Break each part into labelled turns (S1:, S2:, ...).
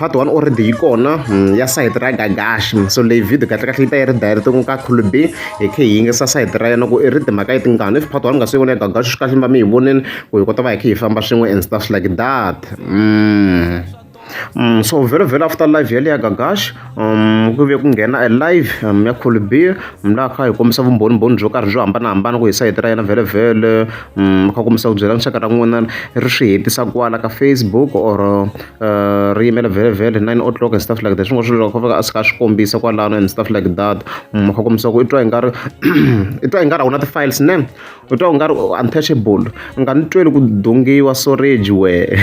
S1: part one already yi kona ya sayiti ra gagaxi so leyi video kahlekahle yi ta yi ri direct ku ka khulu b hi khe hi yingisa sayiti ra yena ku i ri timhaka yi tingani if part one nga se yi vona ya gagaxi swi kahle mi va mi yi vonini ku hi kota va hi khe hi famba swin'we and stuff like that mm. Mm, so very very after live yale ya gagaxi um ku ve ku nghena a live um ya khulu biha mi la kha hi kombisa vumbhonimbhoni byo karhi byo hambanahambana ku hi sayiti ra yena vhelevhele um kha kombisa ku byela nxaka ra n'wina ri swi hetisa kwala ka facebook or uh, ri yimela vhelevhele nine o'clock and stuff like that swin'wana swilo kha fika a sika a swi kombisa kwalano and stuff like that um kha kombisa ku i twa i nga ri i twa i nga ri a wu na ti-files ne u twa u nga ri untouchable u nga ni tweli ku dongiwa soreji wehe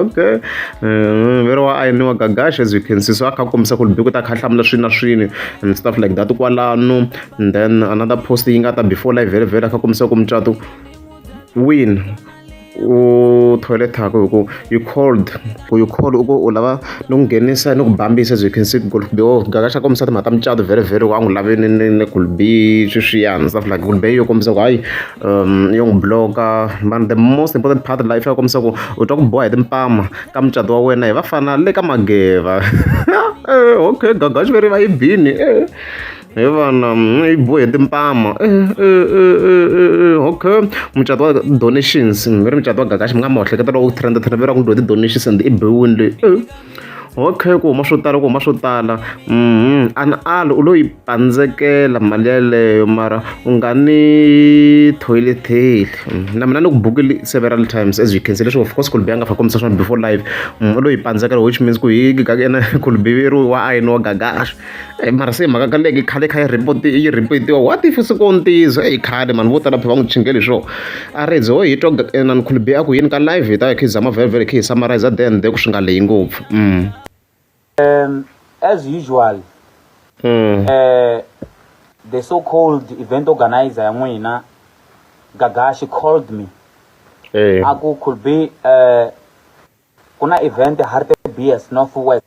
S1: okay eh, vero wa ayiniwa gagash as you can see so a kha a kombisa ku ri biku ta kha hlamula swini na swini and stuff like that kwalano and then another post yi nga ta before live vhele vhele a kha kombisa ku mucato win u toilet yakho hi ku you cold ku you cold u ku u lava ni ku nghenisa ni ku bambisa as you can see ku be o gaka xa kombisa timhaka ta mucato very very wa n'wi lave ni ni ni ku be sweswiyani stuff like ku be yo kombisa ku hayi um yo n'wi bloka but the most important part life ya kombisa ku u twa ku boha hi timpama ka mucato wa wena hi vafana le ka mageva okay gagaxi veri va yi bini hi vana yi bohe timpama okay mucato wa donations mi ri mucato wa gakaxi mi nga ma hleketa loko ku trenda trenda ve ra ku dyiwa ti-donations and i bewini leyi okay ku huma swo tala ku huma swo tala um an ali u lo yi pandzekela mali yeleyo mara u nga ni toileteli na mina ni ku bukile several times as you can see leswi of course kulubi a nga fa kombisa swona before live u lo yi pandzekela which means ku hi ena kulubi ri wa ayini wa gagaxa Eyi mara se hi mhaka ka leki khale kha yi report-i yi report-iwa what if se ko ni ntiyiso eyi khale mani vo tala phe va n'wi chingele hi swona a ri ze ho hi twa inani khulubi a ku yini ka live hi ta hi kha hi zama vhele hi kha hi summarize the and the ku swi nga lehi ngopfu as usual the so called event organizer ya n'wina gaga she called me a ku khulubi ku na event hartbees north west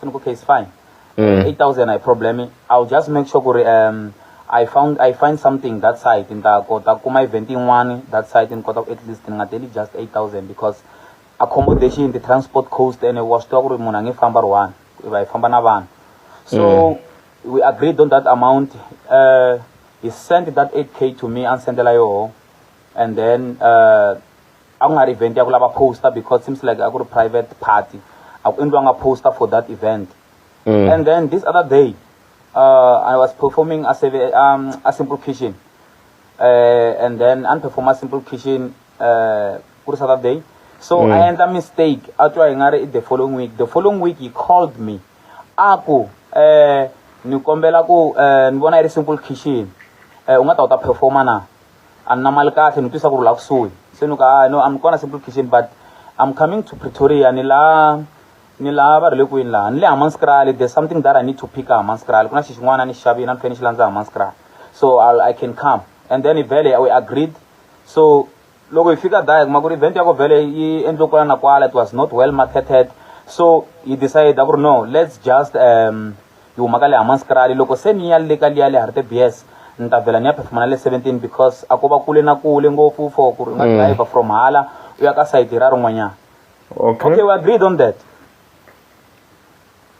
S1: sini ku case fine mm. 8000 i problem i'll just make sure ku ri um i found i find something that side ni ta kota kuma event yin'wana that side ni kota ku at least ni nga teli just 8000 because accommodation the transport cost and wa swi tiva ku ri munhu a nge famba ri one va hi famba na vanhu so mm. we agreed on that amount uh, he sent that 8k to me a ni sendela yoho and then uh, a ku nga ri event ya ku lava poster because seems like a ku ri private party a ku endliwanga poster for that event mm. and then this other day uh, i was performing a, um, a simple kitchen uh, and then a ni perform a simple kitchen uh, ku ri saturday day so mm. i endla mistake a twa hi nga ri the following week the following week he called me a ku um ni kombela ku um ni vona yi ri simple kitchen um u nga ta u ta performa na a ni na mali kahle ni twisa ku ri la kusuhi se ni ku hayi no am kona simple kitchen but i'm coming to pretoria ni la ni la va ri le kwini laha ni le hamanskrali there's something that i need to pick a hamanskrali ku na xi xin'wana ni xi xavini a ni fanele ni xi landza hamanskrali so I'll, i can come and then vhele we agreed so loko hi fika daya kuma ku ri event ya ko vhele yi endliwe kwala na kwala it was not well marketed so hi decide ku ri no let's just um Yi huma ka le Hammanskraal. Loko se ni ya le ka liya le Hartebees, ni ta vhela ni ya phefuma na le 17 because a ko va kule na kule ngopfu for ku ri u nga driver from hala u ya ka sayiti ra rin'wanyana. Okay. Okay, we agreed on that.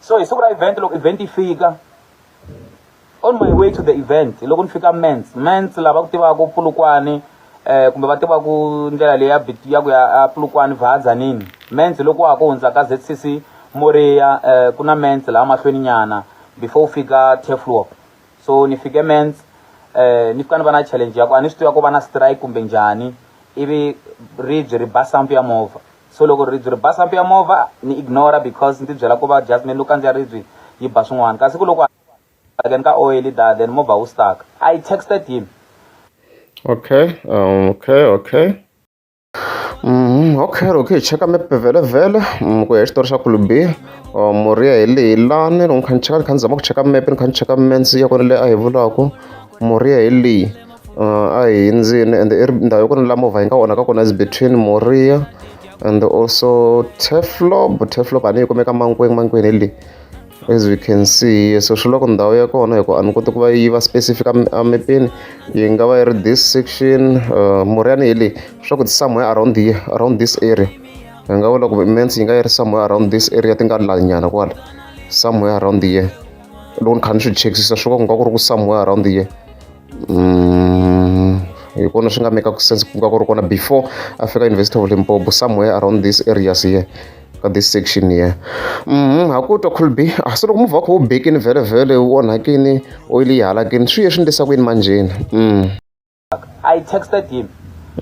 S1: So hi siku ra event loko event yi fika on my way to the event loko ni fika Mens, Mens lava ku tivaka Pulukwane, eh kumbe va tiva ku ndlela leyi ya bit ya ku ya a Polokwane Vaal Tzaneen Mens loko wa ha ku hundza ka ZCC Moriya eh ku na Mens laha mahlweni nyana before u fika Tefloop so ni fike Mens eh ni fika ni va na challenge ya ku a ni swi tiva ku va na strike kumbe njhani ivi ribye ri ba sampu ya movha so loko ribye ri ba sampu ya movha ni ignore because ndzi byela ku va just me ni lo kandziya ribye yi ba swin'wana kasi ku loko then ka oil da then movha wu stuck i texted him okay um, okay okay Mm, okay loko hi cheka mepe vhelevhele mm, ku ya hi xitori xa kulubi uh, murhi ya hi leyi lani loko ni kha ni cheka ni kha ni zama ku cheka mepe ni kha ni cheka mensi ya kona leyi a hi vulaku murhi ya hi leyi uh, a hi hindzini and i ndhawu yo kona la movha yi nga onhaka kona is between moriya and also teflob teflob a ni yi kumeka mankweng mankweng hi leyi As we can see so swi loko ndhawu ya kona hikuva a ni koti ku va yi va specific emepeni yi nga va yi ri this section uh, muriyani hi leyi swa ku somewhere around here around this area hi nga vula ku mens yi nga yi ri somewhere around this area ti nga lanyana kwala somewhere around here loko ni kha ni swi chekisisa swi va ku nga ku ri ku somewhere around here hi kona swi nga mekaku sense ku nga ku ri kona before a fika university of limpopo somewhere around this areas here ka this section here mhm ha ku twa khulbi a ah, se loko muvha kho bekini vele vele u onhakini oil yi halakini swi ye swi ndlisa ku yini manjeni mm i texted him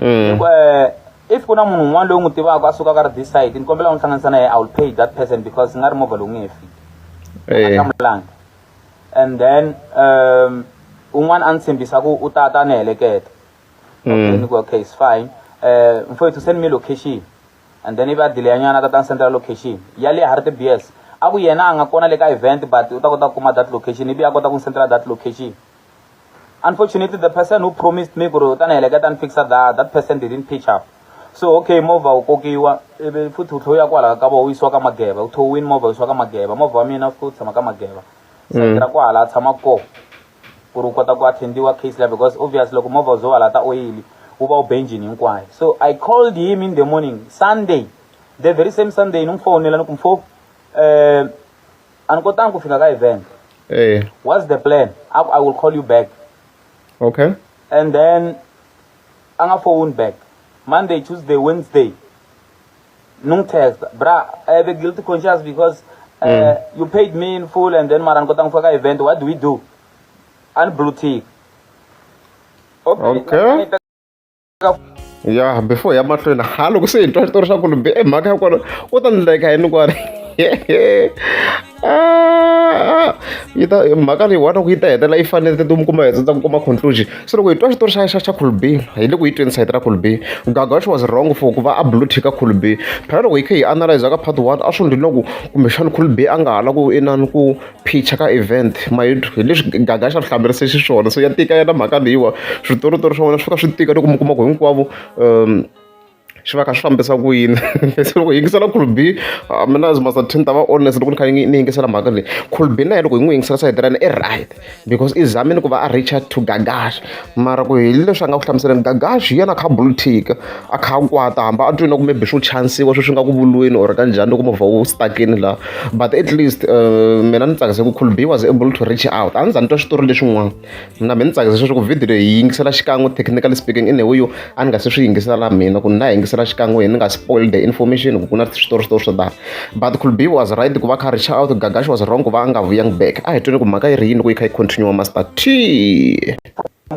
S1: mm. Eh, if ku na munhu un'wana loyi n'wi tivaka a sukaka ri this side ni kombela n'wi hlanganisa na yena i will pay that person because nga ri movha lowu nge he fiki eh. a hlamulanga and then um un'wana a ni tshembisa ku u ta ta ni heleketa okay ni ku okay it's fine eh mfowethu send me location and then ivi a delay nyana ta ta ni sendela location ya le Harry BS a ku yena a nga kona le ka event but u ta kota ku kuma that location ivi a kota ku ni sendela that location Unfortunately, the person who promised me kuri utana heleketa and fixa that, that person didn't pitch up. So okay, mova u kokiwa ivi futhi u tlhoya kwala ka vona u yisiwa ka mageva u thowini mova u yisiwa ka mageva mova wa mina futhi u tshama ka mageva sakira mm. kwala a tshama ko ku ri u kota ku attendiwa case leyi because obvious loko mova u zo wala ta oyili u va u benjini hinkwayo so i called him in the morning sunday the very same sunday ni n'wi fowunela ni ku mfo um eh, a ni kotangi ku fika ka event hey. Eh. what's the plan aku i will call you back okay and then a nga phone back monday tuesday wednesday ni n'wi text bra i have a guilty conscience because uh, mm. you paid me in full and then mara ni kotangi ku fika ka event what do we do a ni blue tick okay, okay. ya before ya mahlweni ha loko se hi twa xitori xa kulumbi e mhaka ya kona u ta ni like hi ni kwani ah, yi ta mhaka leyi wana ku yi ta hetelela yi fanele ti mi kuma hetsa ku kuma conclusion se loko hi twa xitori xa xa xa khulbi hi le ku yi tweni sayiti ra khulbi gagax was wrong for ku va a blue tick a khulbi phela loko hi kha hi analyze ka part one a swi ndli loko kumbexana khulbi a nga ha la ku inani ku Picture ka event hi leswi gaga xa vuhlamulerisa xiswona so ya tika yona mhaka leyiwa switoritori swa wena swi fika swi tika loko mi kuma ku hinkwavo swi va kha swi fambisa ku yini se loko hi yingisela cool be mina as much ni ta va honest loko ni kha ni ni yingisela mhaka leyi cool be na yena loko hi n'wi yingisela side ra yena i right because i zamile ku va a reach out to gaga. mara ku hi leswi a nga ku hlamuseleni gagaxi hi yena a kha a buluthika a kha a kwata hamba a twini ku maybe swo chanisiwa sweswi nga ku vulweni or ka njhani loko movha wu stakini laha but at least uh, mina ni tsakise ku cool b was able to reach out a ni za ni twa switori leswin'wana mina mi ni tsakise sweswi ku video leyi yi yingisela xikan'we technically speaking in a way yo a ni nga se swi yingisela na mina ku ni na yingisela xikan'we ni nga spoil the information ku ku na switori switori swo tala but kulbi was right ku va kha reach out gagash was wrong ku va a nga vuyang back a hi twini ku mhaka yi ri yini ku yi kha yi continue master t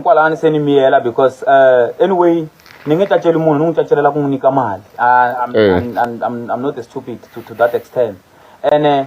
S1: kwalani se ni miyela because uh, anyway ni nge caceli munhu ni n'wi cacelela ku n'wi nyika mali I'm, I'm, I'm, I'm not stupid to, to that extent ene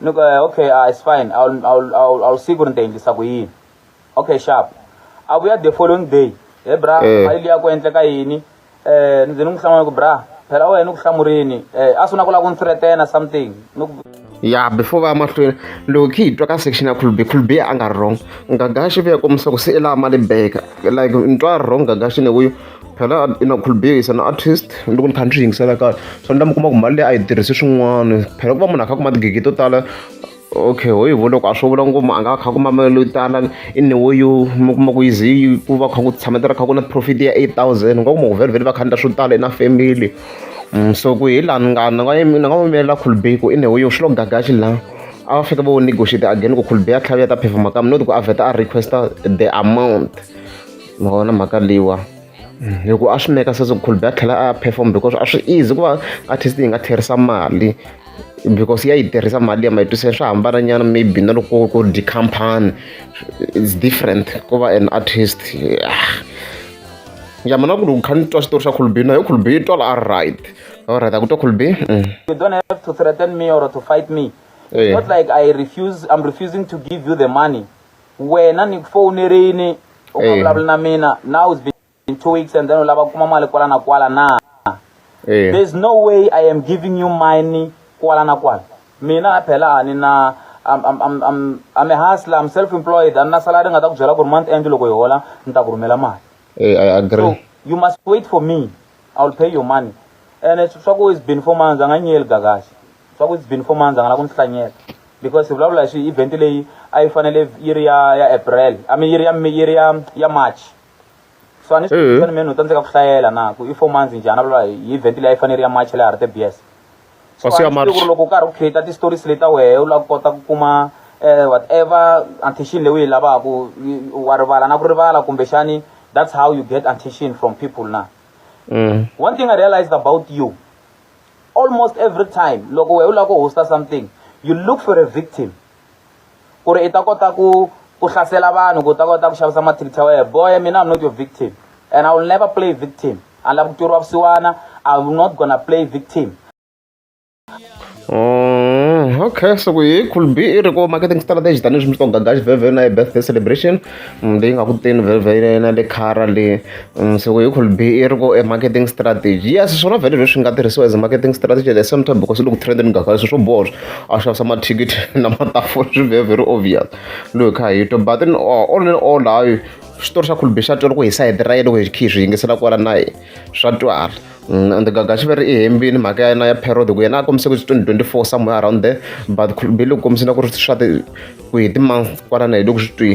S1: ni ku eh, okay uh, it's fine I'll, I'll, I'll, I'll see ku ri ni ta endlisa ku yini okay sharp a vuya the following day he bra Eh. mali liya ku endleka yini um ni ze ni n'wi hlamula ku bra phela wena ni ku hlamurini um a swi na ku lava ku ni threatena something ni ku ya before va ya mahlweni loko khe hi twa ka section ya khulube khulube a nga ri wrong ngagashi ve ya kombisa ku se i laha mali beka like ni twa wrong ngagashi ne wuyo phela i na khulubisa na artist loko ni kha ni swi yingisela kahle so ni lama kuma ku mali leyi a yi tirhisi swin'wana phela ku va munhu a kha kuma tigigi to tala okay ho yivo loko a swo vula ngoma a nga a kha kuma mali yo tala i ni wo yo mi kuma ku yi ze yi ku va kha ku tshametela kha ku na profit ya eight thousand u nga kuma ku vhele va kha ni ta swo tala i na family so ku hi laha ni nga ni nga ni nga n'wi yimela khulubei ku i ni wo yo swi lo gagaxi laha a va fika va wo negotiate again ku khulubei a tlhavi ya ta performa kambe not ku a vheta a requesta the amount ma vona mhaka leyiwa hi ku a swi make sense ku Colby a tlhela a perform because a swi easy ku va artist yi nga tlherisa mali because ya yi tirhisa mali ya mayitiselo swa hambana nyana maybe na loko ku ri company it's different ku va an artist ya mina ku ri kha ni twa xitori xa Colby na yo Colby yi twala a right all right a ku twa Colby mm. you don't have to threaten me or to fight me it's not like i refuse i'm refusing to give you the money wena ni ku fowunerini u nga vulavuli na mina now it's been two weeks and then u lava ku kuma mali kwala na kwala na there's no way i am giving you money kwala na kwala mina phela a ni na I'm, I'm, I'm, I'm, I'm a hustler, I'm self-employed, I'm not salary ngata kujela ku month end loko ihola nita ku rhumela mali. Hey, I agree. So, you must wait for me. I will pay your money. And it's swaku it's been four months anga nyel gagashi. Swaku it's been four months anga la ku nhlanyela. because hi vulavula hi swi event leyi a yi fanele yi ri ya ya april i mean yi ri ya yi ri ya ya march so a ni swi mm-hmm. mina no tsandzeka ku hlayela na ku i four months njhani a vulavula hi event leyi a yi fanele yi ri ya march leyi harite bs so a ni ku loko u karhi u create ti-stories leti ta wehe u lava ku kota ku kuma um whatever attention leyi u yi lavaka wa rivala na ku rivala kumbexani that's how you get attention from people na mm. one thing i realized about you almost every time loko wehe u lava ku hosta something you look for a victim ku ri i ta kota ku ku hlasela vanhu ku ta kota ku xavisa mathikithi ya wehe boy mina i'm not your victim and i will never play victim a ni lava ku tluriwa vusiwana i will not gonna play victim Mm, okay, so we could be iri ko marketing strategy tanihi swi mi swi to gagaxi vhevhe na hi birthday celebration Leyi nga ku teni vhele ya yena le Kara le se ku yi ku be i ri ku e marketing strategy yes swona vhele leswi nga tirhisiwa as marketing strategy at the same time because loko trend ni swilo swo boha leswi a xavisa mathikithi na matafula swi ve very obvious loyi hi kha hi twa but then all in all hayi xitori xa Colbert xa twala ku hi side ra yena loko hi kha hi swi yingisela kwala na swa twala. and gagaxi va ri i hembini mhaka ya yena ya period ku yena a kombise ku twenty twenty four somewhere around there but khulubeli u kombise na ku ri swa ti ku hi ti-month kwalana hi loko swi twi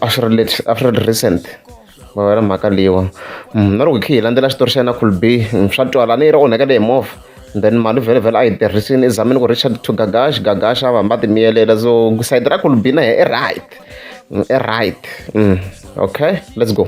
S1: a swi ri late a swi ri recent va wena mhaka leyiwa mm, na loko hi khe hi landzela xitori xa yena khulube mm, swa twala ni yi ri onhekele hi movha then mali vhele vhele a yi tirhisini ezamini ku richard to gagash gagash a va hamba ti miyelela so sayiti ra kulubina he i right mm, i right okay let's go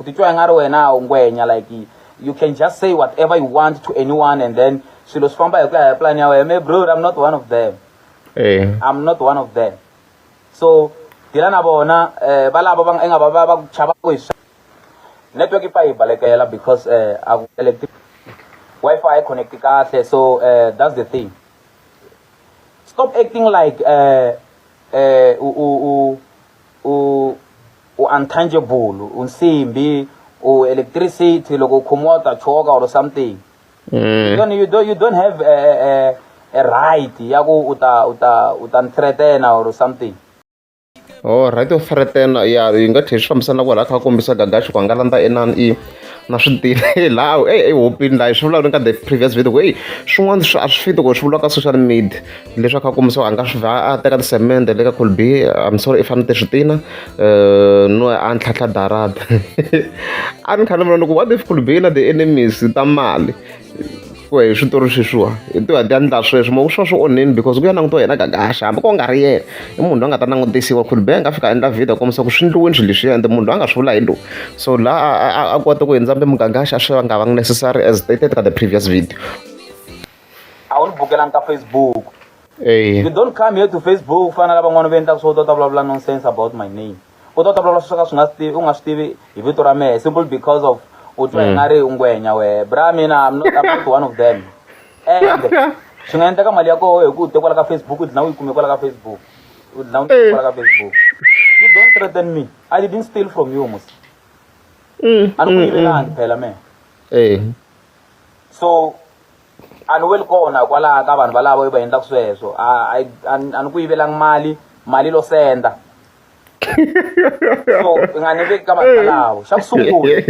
S1: u titwa i nga ri wena u ngwenya like you can just say whatever you want to anyone and then swilo swi famba hi ku ya hi plan ya wena me bro i'm not one of them eh. i'm not one of them so dila na vona eh, va lava va nga va va va ku chava ku hi swa network yi pfa yi balekela because eh, a ku electric wifi yi connect kahle so eh, that's the thing stop acting like eh, eh, u, u, u, u U untangible, u nsimbi, u electricity, loko u khomiwa u ta choka or something. You don't, you don't, you don't have a, a, a, a right ya ku u ta u ta u ta ni threatena or something. Oh, right of threatena ya yi nga tlhela swi fambisana kwala kha kombisa gaga xikwanga landza enan i na swi tirhe laha e ehopini laha swi vulavula ka the previous video ku eyi swin'wana swi a swi fiti ku swi vuriwa ka social media leswaku a kuma so a nga swi a teka tisemende le ka colbi i'm sorry i fanele swi tina eh, no a ni tlhatlha darada a ni khale vona loko what if colbi na the enemies ta mali ku hi switori sweswiwa hi tiwa ti endla sweswi mo swa swi onheni because ku ya langutiwa yena gagaxa hambi ko nga ri yena i munhu loyi a nga ta langutisiwa khulbe a nga fika endla video kombisa ku swi ndliweni swilo leswiya ende munhu loyi a nga swi vula hi lowu so laha a kota ku hindza mbe mugagaxa a swi nga va necessary as stated ka the previous video a wu ni bukelanga ka facebook Eya. you don't come here to facebook ku fana na lavan'wana va endlaka swo u ta ta vulavula nonsense about my name u ta ta vulavula swo ka swi nga swi tivi u nga swi tivi hi vito ra mehe simple because of u twa hi nga ri u ngwenya wehe bra mina I'm not, I'm not one of them and swi nga endleka mali ya koho hi ku u te kwala ka facebook u dlina u yi kume kwala ka facebook u dlina u yi kwala ka facebook you don't threaten me i didn't steal from you musi a ni ku yivelanga phela mehe Eya. so a ni weli kona kwalaha ka vanhu valavo va endlaka sweswo a ni ku yivelanga mali mali lo senda so i nga ni veki ka vanhu valavo xa ku sungula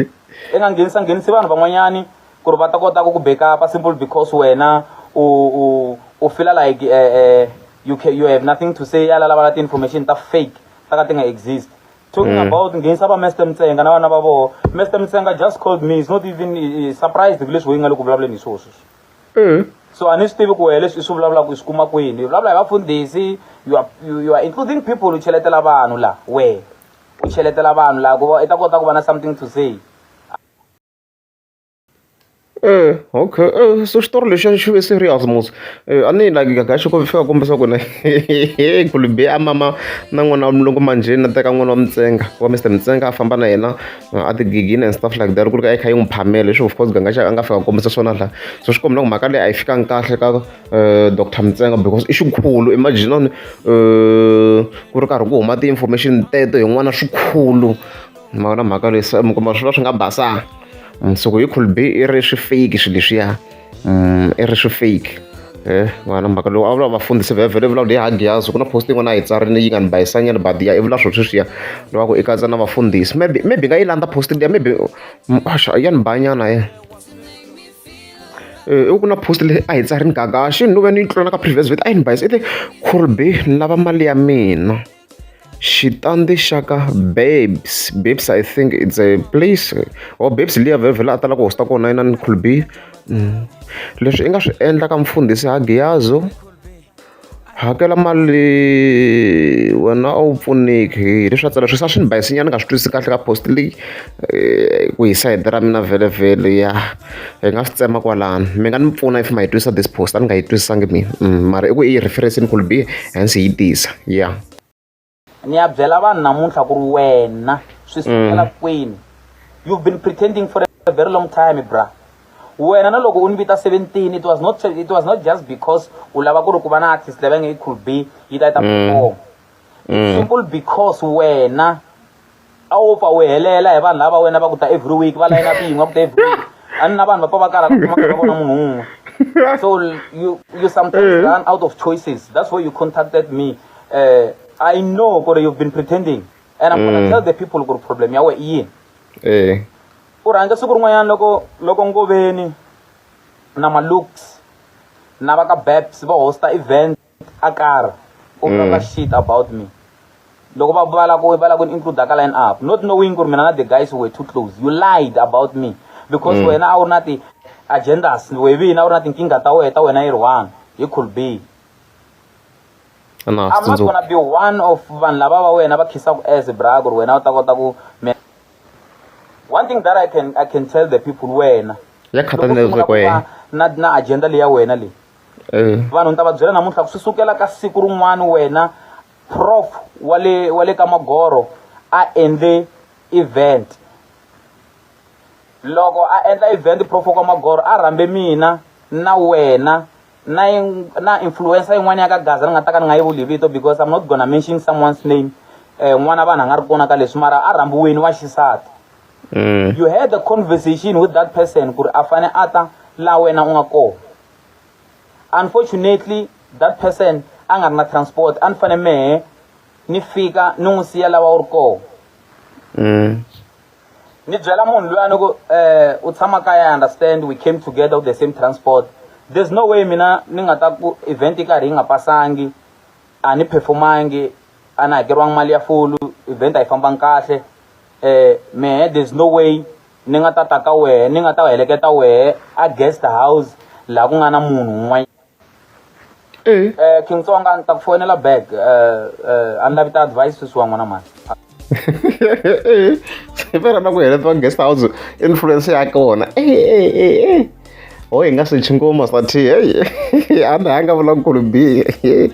S1: i nga nghenisa nghenisi vanhu van'wanyani ku ri va ta kota ku ku back-upa simple because wena u u u fila like uh, uh, you, can, you have nothing to say yala lava la ti-information ta fake ta ka ti nga exist talking mm. about nghenisa va mester mtsenga na vana va voho mester mtsenga just called me is not even surprised hi leswi weyi nga le ku vulavuleni hi swoho sweswi mm. so a ni swi tivi ku wehe leswi i swi vulavulaka i swi kuma kwini i vulavula hi vafundhisi you are including people u cheletela vanhu laha wehe u cheletela vanhu laha ku va i ta kota ku va na something to say Eya okay xitori lexiya xi ve serious mos a ni like nga xi ku fika kombisa ku ri kule be a mama na n'wana wa mulungu manjheni a teka n'wana wa mutsonga wa Mister Mtsenga a famba na yena a ti ghina and stuff like that loko ku ri ka a yi kha yi n'wi phamela leswi of course Ganga xi a nga fika a kombisa swona la so swi komba ku mhaka leyi a yi fikanga kahle ka Doctor Mtsenga because i xikhulu imagine ku ri karhi ku huma ti-information teto hi n'wana xikhulu. ni ma vona mhaka leyi mi kuma swi va swi nga basanga mundzuku yi could be i ri swi fake swilo leswiya mm, i ri swi fake eh, n'wana mhaka lowu a vula vafundhisi vhevhele vula leyi hagiyazi ku na post yin'wana a yi tsarile yi nga ni bayisanyana badiya i vula swo sweswiya loko i katsa na vafundhisi maybe maybe nga yi landza post liya maybe mm, asha ya ni bayanyana ye eh, i ku na post leyi a yi tsarini gagaxi ni lo ve ni yi tlula na ka previous vet a yi ni bayisa i te khurbe ni lava mali ya mina xitandi xa ka Babes. Babes I think it's a place or Babes liya vhele a tala ku host-a kona yena ni Cool B. Leswi i nga swi endla ka mufundhisi ha Giyazo, hakela mali wena a wu pfuneki hi leswi a tsala sweswi a swi ni bayisinyana ni nga swi twisisi kahle ka post leyi. ku hi sayiti ra mina vhele ya hi nga swi tsema kwalano mi nga ni pfuna if ma yi twisa this post a ni nga yi twisisangi mina mara i ku i yi reference-ini ku ri bihe hence hi yi tisa ya ni ya byela vanhu namuntlha ku ri wena swi sukela kwini you've been pretending for a very long time bra wena na loko u ni vita 17 it was not it was not just because u lava ku ri ku va na artist leyi va nge yi cool b yi ta yi ta perform simple because wena a wu pfa u helela hi vanhu lava wena va ku ta every week va layina ku yin'wa ku ta every week a ni na vanhu va pfa va kala ku kuma va vona munhu un'we so you you sometimes eh. run out of choices that's why you contacted me uh, i know ku ri you've been pretending and i'm gonna mm. tell the people ku ri problem ya we i yini eh. u rhandza siku rin'wanyana loko loko ngoveni na malooks na va ka babs va hosta event a karhi u mm. talk shit about me loko va va la ku va la ku include ka line up not knowing ku ri mina na the guys were too close you lied about me because mm. wena a wu na ti agendas we vina a wu na tinkingha ta wena ta wena yi ri one hi could be I'm not gonna be one of vanhu lava va wena va khisaku as bra ku ri wena u ta kota ku one thing that i can i can tell the people wena ya khathalelezeko yena na na agenda leya wena leyi eh. vanhu ni ta va byela namuntlha ku swi sukela ka siku rin'wana wena prof wa le wa le ka magoro a endle event loko a endla event prof wa ka magoro a rhambe mina na wena na na influencer yin'wana ya ka gaza ni nga ta ka ni nga yi vuli vito because i'm not gonna mention someone's name eh, n'wana vanhu a nga ri kona ka leswi mara a rhambiweni wa xisati mm. you had a conversation with that person ku ri a fane a ta la wena u nga kona unfortunately that person a nga ri na transport a ni fane mehe ni fika ni n'wi siya lawa u ri koho mm. ni byela munhu luya ni ku um u tshama kaya i understand we came together with the same transport there's no way mina ni nga ta ku event yi karhi yi nga pasangi a ni performangi a ni hakeriwangi mali ya fulu event a yi fambangi kahle um mehe there's no way ni nga ta ta ka wehe ni nga ta heleketa wehe a guest house laha ku nga na munhu un'wana eh. eh king tsonga ni ta ku fonela back eh, eh, a ni lavi ta advice sweswi wa n'wana mani fera na ku heletiwa guest house influence ya kona ho hi nga swi chingoma swa thi heyi a ni hanga vulankulu bihe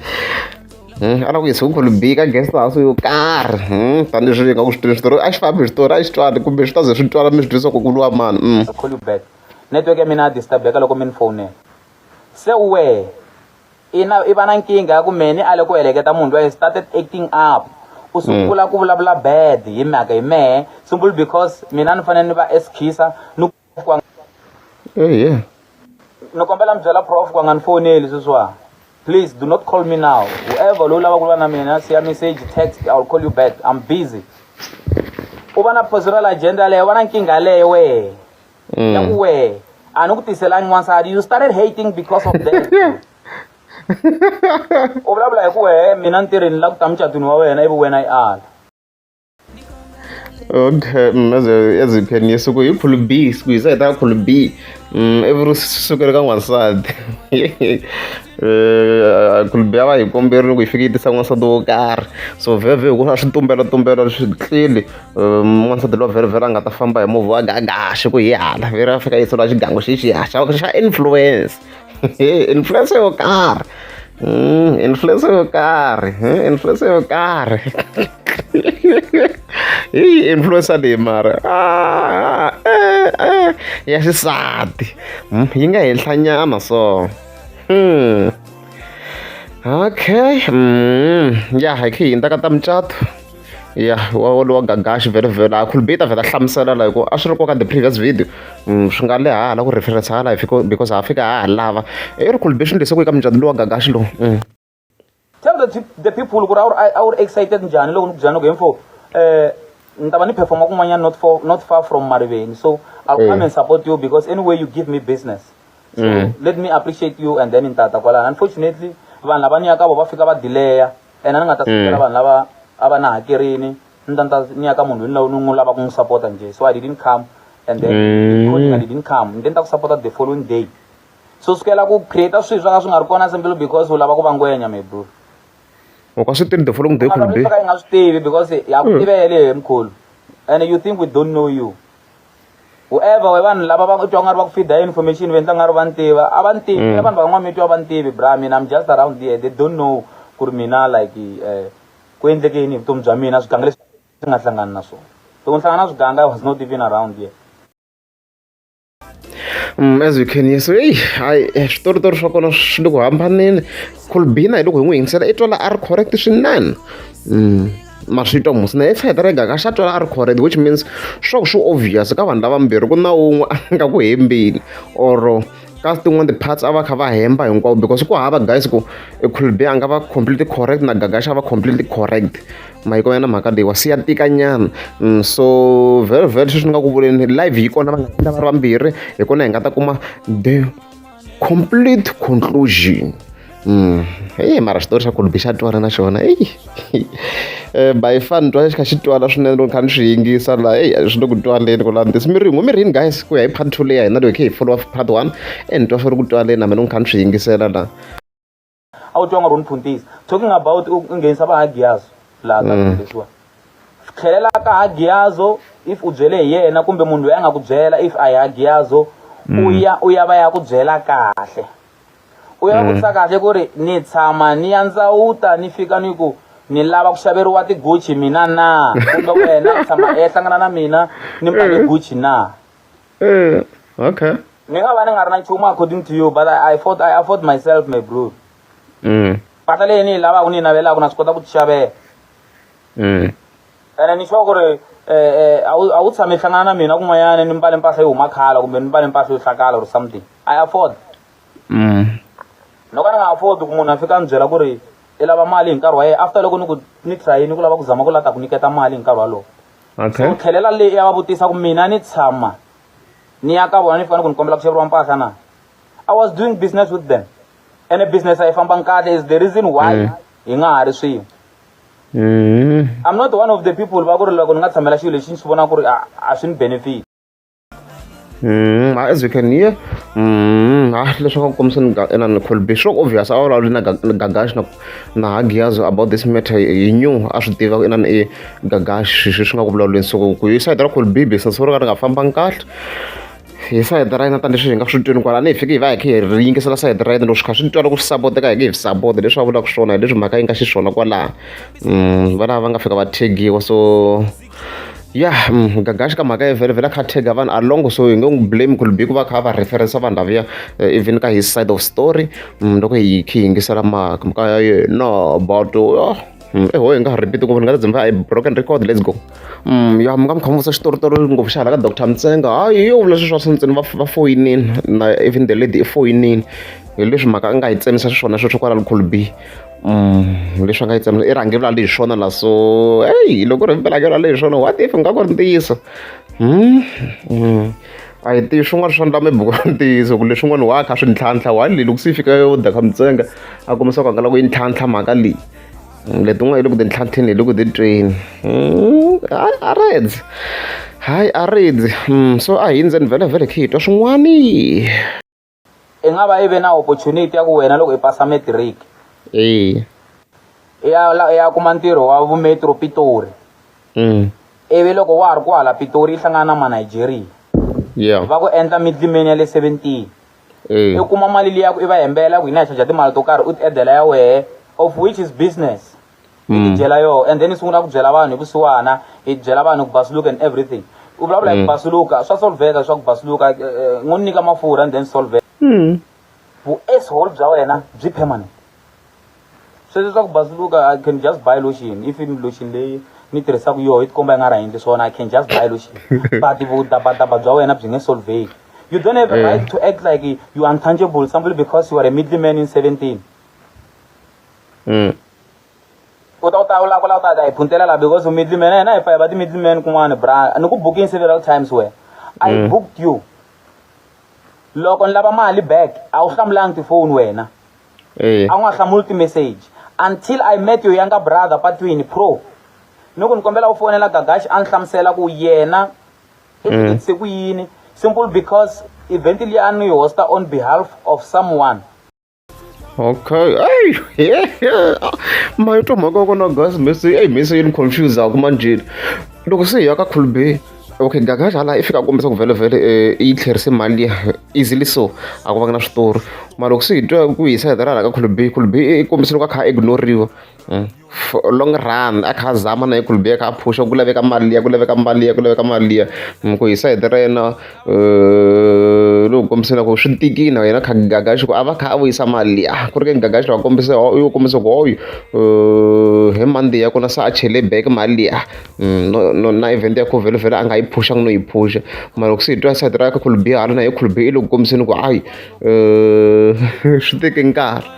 S1: Hmm, a lava ku yisa ku khulu bika guest house yo karhi hmm, tanihi swi nga ku swi twile switori a xi fambi switori a xi twani kumbe swi ta ze swi twala mi swi twisa ku ku lwa mani hmm. call you back network ya mina ya disturbeka loko mi ni fowunela se wehe ina i va na nkingha ya ku mehe ni ale ku heleketa munhu loyi started acting up u sungula ku vulavula bad hi mhaka hi mehe simple because mina ni fanele ni va eskhisa ni ehe ni kombela mi byela prof ku a nga ni foneli sweswiwani please do not call me now whoever loyi lava ku lwa na mina siya message text i will call you back i'm busy u va na personal agenda leyo va na nkingha leyo wehe ya ku wehe a ni ku tiselangi n'wansati you started hating because of that u vulavula hi ku wehe mina ntirhini la ku ta mucatwini wa wena ivi wena i ala okay mm, ezipheni yesuku yi khulu b siku yi sahita khulu b mm, every sukela ka n'wansati eh, khulu b a va hi komberile ku yi fike yi tisa n'wansati wo karhi so vhevhe hikuva swi tumbela tumbela swi tlili eh, n'wansati lowa vherevhere a nga ta famba hi movha wa gagaxe ku hi hala veri a fika yi tsula xigango xi xihaxa xa influence influencer yo karhi mm, influencer yo karhi eh, influencer yo karhi hi influencer leyi mara ah, eh, eh, ya xisati hmm, yi nga henhla nyana so hmm. okay mm, ya hi khe yi ta ka ta mucato ya wa wolowo gagaxi vhele vhele a khulubita vhele a hlamusela la hikuva a swi ri koka the previous video mm, swi nga le hala ku reference hala because ha fika ha ha lava i ri khulubixini lese ku eka mucati lowa gagaxi lowu mm. tell the, the people ku ri a wu ri excited njhani loko ni ku byela ni ku hemfo um ni ta va ni performa kun'wanyana not, for, not far from mariveni so i'll mm. come and support you because anyway you give me business so mm. let me appreciate you and then ni tata kwalana unfortunately vanhu lava ni ya ka vo va fika va dileya ene ni nga ta sekela vanhu lava a va na hakerini ni ta ni ta ni ya ka munhu loyi ni n'wi lava ku n'wi sapota njhe so i didn't come and then i didn't come ni te ni ta ku sapota the following day so sukela ku create swilo swa nga swi nga ri kona simple because u lava ku va ngwenya mebro u ka swi tivi the following day kumbe i nga swi tivi because ya ku tivele he mkhulu and you think we don't know you whoever we vanhu lava va twa nga ri va ku feeda information va endla nga ri va ni tiva a va ni tivi mm. vanhu van'wana mi twa va ni tivi bra mina i'm just around there they don't know ku ri mina like um ku endleke yini hi vutomi bya mina swiganga leswi swi nga hlangani na swona loko ni hlangana na swiganga i was not even around there Mm, as we can hear so eyi hayi eh, switoritori swa kona swi le ku hambaneni colbina hi loko hi n'wi yingisela i twala a ri correct swinene mm. masvito musi na efe terega ka xa twela a ri correct which means swa ku swi obvious ka vanhu lavambirhi ku na wun'we a nga ku hembeni or ka tin'wana ti-parts a va kha va hemba hinkwavo because ku hava guys ku ekhulbe a nga va completely correct na gagaxa va completely correct mahiko ya na mhaka leyi wa siya tikanyana mm, so very very sweswi ni nga ku vuleni live yi kona va nga va ri vambirhi hi kona hi nga ta kuma the complete conclusion Mm. Hey, mara xitori xa kulubi xa twala na xona ey eh, by fan twa xi kha xi twala swinene loko kha ni swi yingisa la ey swi le ku twaleni ku lani this miringo mirini guys ku ya hi part two leyi ya hina leyi khe hi follow up part one and twa swi ri ku twaleni na mina ni kha ni swi yingisela la a wu twa nga ri ni phuntisa talking about u nghenisa va hagiyazo laha ka mm. leswiwa tlhelela ka hagiyazo if u byele hi yena kumbe munhu loyi a nga ku byela if a hi hagiyazo u mm. ya u ya va ya ku byela kahle u ya va vutisa mm. kahle ku ri ni tshama ni ya ndzawuta ni fika ni ku ni lava ku xaveriwa tiguchi mina na kumbe wena tshama ehlangana na mina ni mpake guchi na Eh, okay. Ni nga va ni nga ri na nchumu according to you but I, I fought I afford myself my bro. Mm. Pata leyi ni yi lavaka ni yi navelaka na swi kota ku tixavela. Mm. Ene ni sure ku ri eh, eh, a wu a wu tshame hlangana na mina kun'wanyana ni mbale mpahla yo huma khala kumbe ni mbale mpahla yo hlakala or something. I afford. Mm. no ka ni nga afford ku munhu a fika a ni byela ku ri i lava mali hi nkarhi wa yena after loko ni ku ni trayini ku lava ku zama ku lava ta ku nyiketa mali hi nkarhi walowo okay. so u tlhelela le ya va vutisa ku mina ni tshama ni ya ka vona ni fika ni ku ni kombela ku xaveriwa mpahla na i was doing business with them and a business a yi fambangi kahle is the reason why mm. hi nga ha ri swin'we mm. i'm not one of the people va ku ri loko ni nga tshamela xilo lexi ni swi vona ku ri a swi ni benefit Mm, as you can hear mm, ah leswaku a kombisa ni ena ni colbe sure obvious a vulavuli na gagash na na hagiyazo about this matter hi new a swi tiva ku inani i gagash swi swi nga ku vulavuleni so ku yi sayiti ra colbe business ro ka ri nga fambangi kahle hi sayiti ra yena tani leswi hi nga swi twini kwalani hi fike hi va hi khe hi ri yingisela sayiti ra yena loko swi kha swi ni twala ku swi sapoteka hi nge hi swi sapota leswi a vulaka swona hi leswi mhaka yi nga xiswona kwalaha mm, valava va nga fika va thegiwa so ya mm, gagaxi ka mhaka vhele vhele a kha tega vanhu along so hi nge n'wi blame ku libi ku va kha va referensa vanhu lavuya eh, even ka his side of story mm, loko hi khi hi yingisela mhaka ya yena but oh, mm, eho hi nga ha repeat ngopfu ni nga ta dzimba i broken record let's go ya mi nga mi kha mi vutisa xitoritori ngopfu xa hala ka doctor mtsenga hayi yo vula sweswi swa swintsini va foyinini na even the lady i foyinini hi leswi mhaka a nga yi tsemisa xiswona sweswo kwala likhulu b leswi va nga yi tsemela i rhangeri ra lexi swona la so eyi loko ri mpela ke ra lexi swona what if nga ku ri ntiyiso a hi tivi swin'wana swa ndla maybe ku ri ntiyiso ku leswin'wana wa kha swi ntlhantlha wa leyi loko se yi fika yo dya kha mintsenga a kombisa ku a nga la ku yi ntlhantlha mhaka leyi letin'wana hi le ku ti ntlhantlheni hi le ku ti tweni hayi a redzi hayi a redzi so a hi ndzeni vhele vhele khe hi twa swin'wani i nga va i ve na opportunity ya ku wena loko i pasa matric eya i ya la- i ya kuma ntirho wa vumetro pitori mm. ivi loko wa ha ri kwahala pitori yi hlangana na manigeria yeah va ku endla midlimeni ya le 17 eya i kuma mali liya ku i va hembela ku hina hi chaja timali to karhi u ti edela ya wehe of which is business i mm. tidyela yoho and then i sungula ku byela vanhu hi vusiwana i byela vanhu ku basuluka and everything u vulavula hi ku mm. basuluka swa solveka swa ku basuluka eh, eh, n'wi nyika mafurha and then solveka mm. vu ashole bya wena byi permanent sweswi swa ku basuluka i can just buy lotion if i lotion leyi ni tirhisaka yoho yi tikomba yi nga ra endli swona i can just buy lotion but vudabadaba bya wena byi nge solveki you don't have a eh. right to act like you untangible somebody because you are a middle man in 17 Mm. u ta u ta u lava ku lava u ta ta hi phuntela laha because u middle man hina hi fa hi va ti-middle man kun'wana bra ni ku booking several times wena i Mm. booked you loko ni lava mali back a wu hlamulanga tifoni wena Eh. a wu nga hlamuli ti-message until i met your younger brother patwini pro ni ku ni kombela u fonela gagaxi a ni hlamusela ku yena i Mm. fikise ku yini simple because event liya a ni yi hosta on behalf of someone Okay. Hey, yeah, yeah. My to my go no guys, Messi. Hey, Messi in confused out man jid. Loko se ya ka could be. Okay, gaga jala if ka kombisa ku vele vele eh i tlherise mali easily so a ku va na switori. Mara loko se hi twa ku hisa hi dara ka could be could be i kombisa loko a kha ignore-riwa. for a long run a kha a zama na Ekwell Bier a kha a phusha ku laveka mali liya ku laveka mali liya ku laveka mali liya ni ku hi side ra yena ni n'wi kombise na ku swi tikile na yena kha Gagax ku a va kha a vuyisa mali liya ku ri ke ni Gagax va kombise u yi kombise ku hoyu hi Monday ya kona se a chele back mali liya na event ya kona vhelovhelo a nga yi phuxangi no yi phuxa mara loko se hi twa side ra Ekwell Bier hala na Ekwell Bier i le ku kombiseni ku hayi swi teke nkarhi.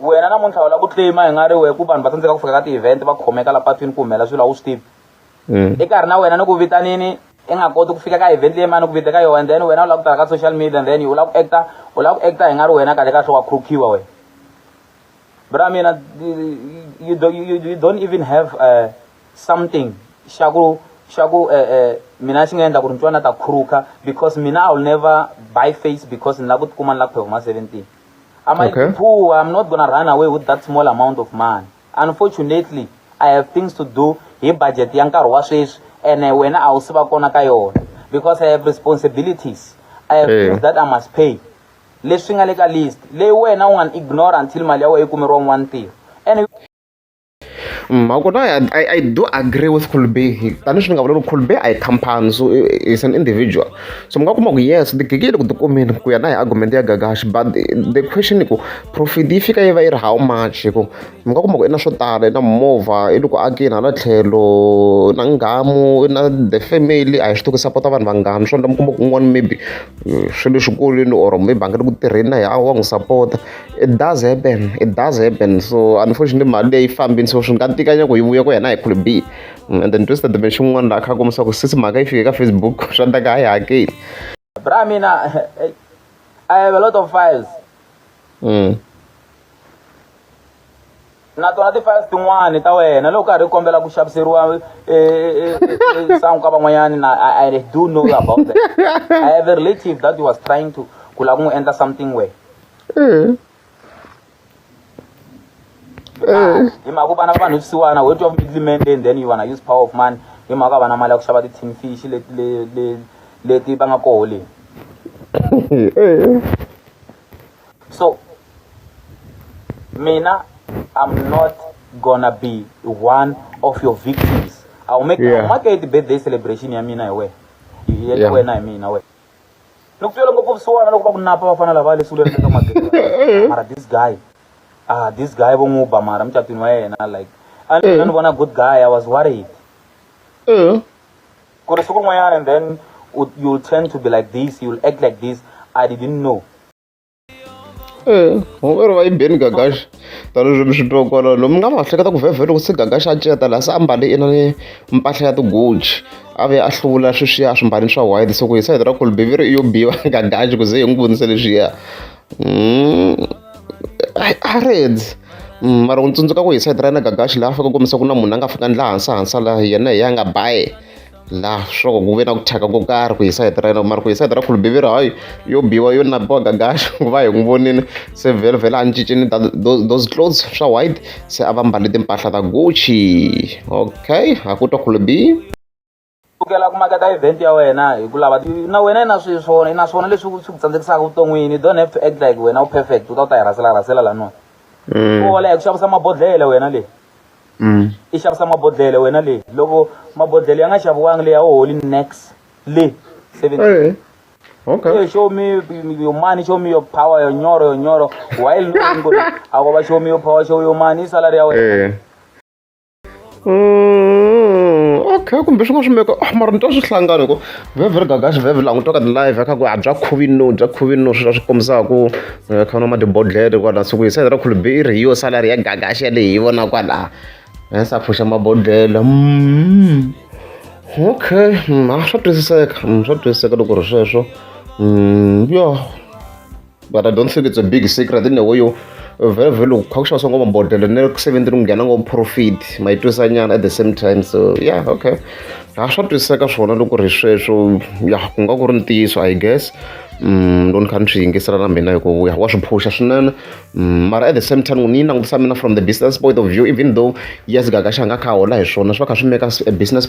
S1: wena namuntlha u lava ku claima hi nga ri wehe ku vanhu va tsandzeka ku fika ka ti-event va khomeka la patwini ku humelela swilo a wu swi tivi mm. i karhi na wena ni ku vitanini i nga koti ku fika ka event leyi mani ku vita ka yona and then wena u lava ku tala ka social media and then u lava ku acta u lava ku acta hi nga ri wena kahle kahle wa khurukhiwa wena bra mina you, you, you don't even have uh, something xa ku xa ku eh, eh, mina xi nga endla ku ri ntswana ta khuruka because mina i will never buy face because ni lava ku tikuma ni lava ku phehuma seventeen I might okay. be poor, I'm not gonna run away with that small amount of money. Unfortunately, I have things to do hi budget ya nkarhi wa sweswi and wena a wu si va kona ka yona because I have responsibilities. I have hey. things that I must pay. Leswi nga le ka list, leyi wena u nga ignore until mali ya wena yi kumeriwa un'wana ntirho. Mm, ma kona I, I, I do agree with colby tanihi swi nga vula loko colby a hi company so is an individual so mi nga kuma ku yes tigigi yi le ku tikumeni ku ya na hi argument ya gagashi but the question i ku profit yi fika yi va yi ri how much hi ku mi nga kuma ku i na swo tala i na mimovha i le ku akeni hala tlhelo na ngamu i na the family a hi swi tiku sapota vanhu vangani swo endla mi kuma ku un'wana maybe eh, swi le xikolweni or maybe a nga le ku tirheni na hi a wa n'wi sapota it does happen it does happen so unfortunately mali leyi fambini so swi nga tika nyako yi vuya ku yena hi could be mm, and then twisted the machine un'wana la kha kombisa ku sisi mhaka yi fike ka facebook swa ta ka a yi hakeli bra mina i have a lot of files mm. na tona ti-files tin'wani ta wena loko karhi kombela ku xaviseriwa e, e, e, sangu ka van'wanyani na i do know about that i have a relative that was trying to ku lava ku n'wi endla something way eh. ah, hi mhaka ku vana va vanhu swisiwana ho twa middleman and then you wanna use power of money hi mhaka vana mali ya ku xava ti-tin fish leti va nga koho leni so mina i'm not gonna be one of your victims i'll make yeah. i'll make it birthday celebration ya mina hi wena ya yeah. wena hi mina wena loko swi loko ku suwana loko va ku napa va fana lava leswi le ka magezi mara this guy ah this guy vo n'wi ba mara mucatwini wa yena like a ni eh. vona good guy i was worried eh. ku ri siku rin'wanyana and then you tend to be like this you act like this i didn't know ee eh, hungweri va yimbeni gagaxa tanihileswi mi swi twa kwala lomu nga va hleketa ku vhevhe loko se gagaxa a ceta laha se a mbale ina ni mpahla ya tigoji a ve a hluvula sweswiya swimbani swa white se ku hi sayiti ra kolbiviri i yo biwa gagaxi ku ze hi n'wi vonisa leswiya I a red mara u tsundzuka ku hi side ra yena gagaxi laha a fika kombisa ku na munhu a nga fika ndla hansi hansi la yena hi ya nga baye la swo ku ve na ku thyaka ko karhi ku hi side ra yena mara ku hi side ra khulubiviri hayi yo biwa yo nabiwa gagaxi ku va hi n'wi vonile se vhele vhele a ni cincini those clothes swa white se a va mbale timpahla ta gucci okay ha ku twa khulubi sukela ku maketa event ya wena hi ku lava na wena i na swilo swona i na swona leswi swi ku tsandzekisaka vuton'wini don't have to act like wena u perfect u ta u ta yi rhasela rhasela laniwa mm. ola hi ku xavisa mabodhlele wena leyi mm. i xavisa mabodhlele wena leyi loko mabodhlele ya nga xaviwangi leyi a wu holi nex le seventy Okay. show me your money, show me your power, your nyoro, your nyoro. While knowing, I will show me your power, show your money, salary. Yeah. okay kumbe swi nga swi meka oh, mara ni twa swi hlangana ku vevheri gagaxi vhevhe langutwa ka ti-live ya kha ku a bya khovino bya khovino swi swi kombisaka ku eh, kha na madibodlere kwala siku yi sayidera khulubi i ri hi yo salari ya gagaxi ya leyi hi vona kwala hensa eh, a pfuxa mabodlele mm. okay mm, a swa twisiseka mm, swa twisiseka loko ri sweswo yo but i don't think it's a big secret in a way yo vele vele ukukha kushawa sonke amabhodlela nekusebenzini kungena ngoprofit mayitwisanyana at the same time so yeah okay ha swa twisiseka swona loko ri sweswo ya ku nga ku ri ntiyiso i guess um loko ni kha ni swi yingisela na mina hikuva ya wa swi phusha swinene mm, mara at the same time ni yi langutisa mina from the business point of view even though yes gaga xa nga kha hola hi swona swi va kha swi meka a business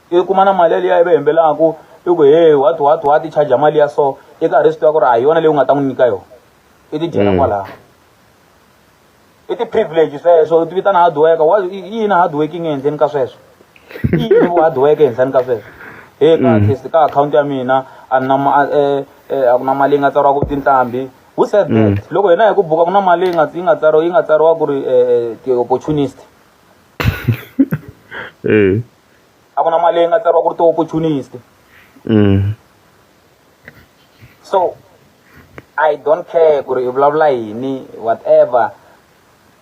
S1: i kuma na mali yaliya ivi hembelaku i ku he what what what i charger mali ya so i karhi i swi tiva ku ri a hi yona leyi u nga ta n'wi nyika yona i ti dyela kwalaho i ti-privilege sweswo u ti vitana hard worker wa i yini hard working ehenhleni ka sweswo i yini vu hard worker ehenhleni ka sweswo he ka at least ka akhawunti ya mina a ni na ma a ku na mali yi nga tsariwa ku tintambi who said that loko hina hi ku buka ku na mali yi nga yi nga tsariwa yi nga tsariwa ku ri ti-opportunist a ku na mali leyi nga tsariwa ku ri ti-opportunist so i don't care ku ri i vulavula yini whatever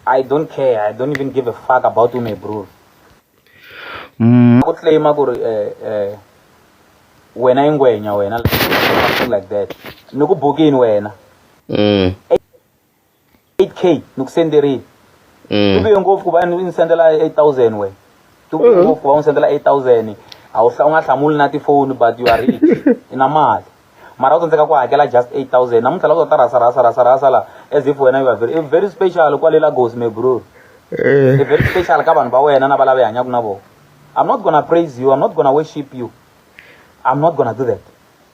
S1: i don't care i don't even give a fuck about you my bro ku claim ku ri eh eh wena i ngwenya wena like that ni ku bukini wena 8k ni ku senderile mm. tivuye ngopfu ku va ni sendela 8000 we tivuye mm. ngopfu ku va n'wi sendela 8000 a wu u nga hlamuli na tifoni but you are rich i na mali mara u tsandzeka ku hakela just 8000 namuntlha lava ta rasa rasa rasa rasa la as if wena you are very, very special kwale lagos me bro eh. very special ka vanhu va wena na va lava hanyaka na vona i'm not gonna praise you i'm not gonna worship you i'm not gonna do that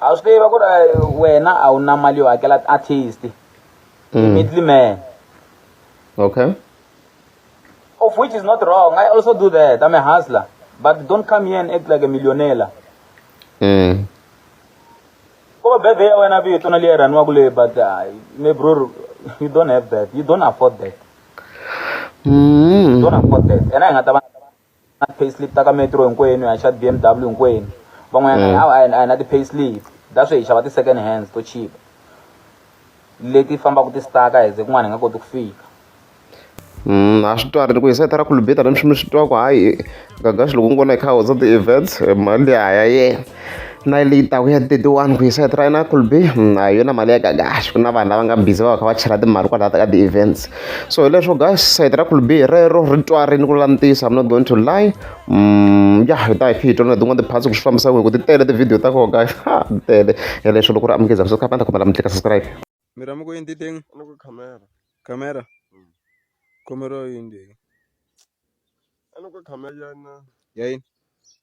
S1: a swi tiva ku ri wena a wu na mali yo hakela artist mm. middle man okay of which is not wrong i also do that i'm a hustler but don't come here and act like a millionaire mm. ko va bebe ya wena vito na leyi rhaniwaku leyi but uh, me bror you don't have that you don't afford that mm. you don't afford that and i nga ta va na pay slip ta ka metro hinkwenu hi xa BMW hinkwenu van'wanyana mm. a hi na ti-pay slip ta swi hi xava ti-second hands to chipa leti fambaka ti staka hi ze kun'wana hi nga koti ku fika mm, a swi twarile ku hisayitha ra khulubeta na miximi swi twa ku hayi gagaxi loko ni vona hi kha hotsa ti-events mali ya ha ya yena na leyi taku ya tetiwani ku yisa try na kulbi hmm, a yona mali ya gagash ku na vanhu lava nga busy va va kha va chela timali kwalaha ka ti-events so hi leswo guys sayiti ra kulbi hi rero ri twarini ku langutisa i'm not going to lie um ya hi ta hi phi hi tona tin'wana tiphatsi ku swi fambisa ku hi ku ti tele tivhidiyo ta koho guys ha ti tele hi leswo loko ri amukeza ku sukha panda khomela mi tlika subscribe mi rama ku yini titeng camera camera hmm. khomero yini leyi a ni ku camera yana ya yini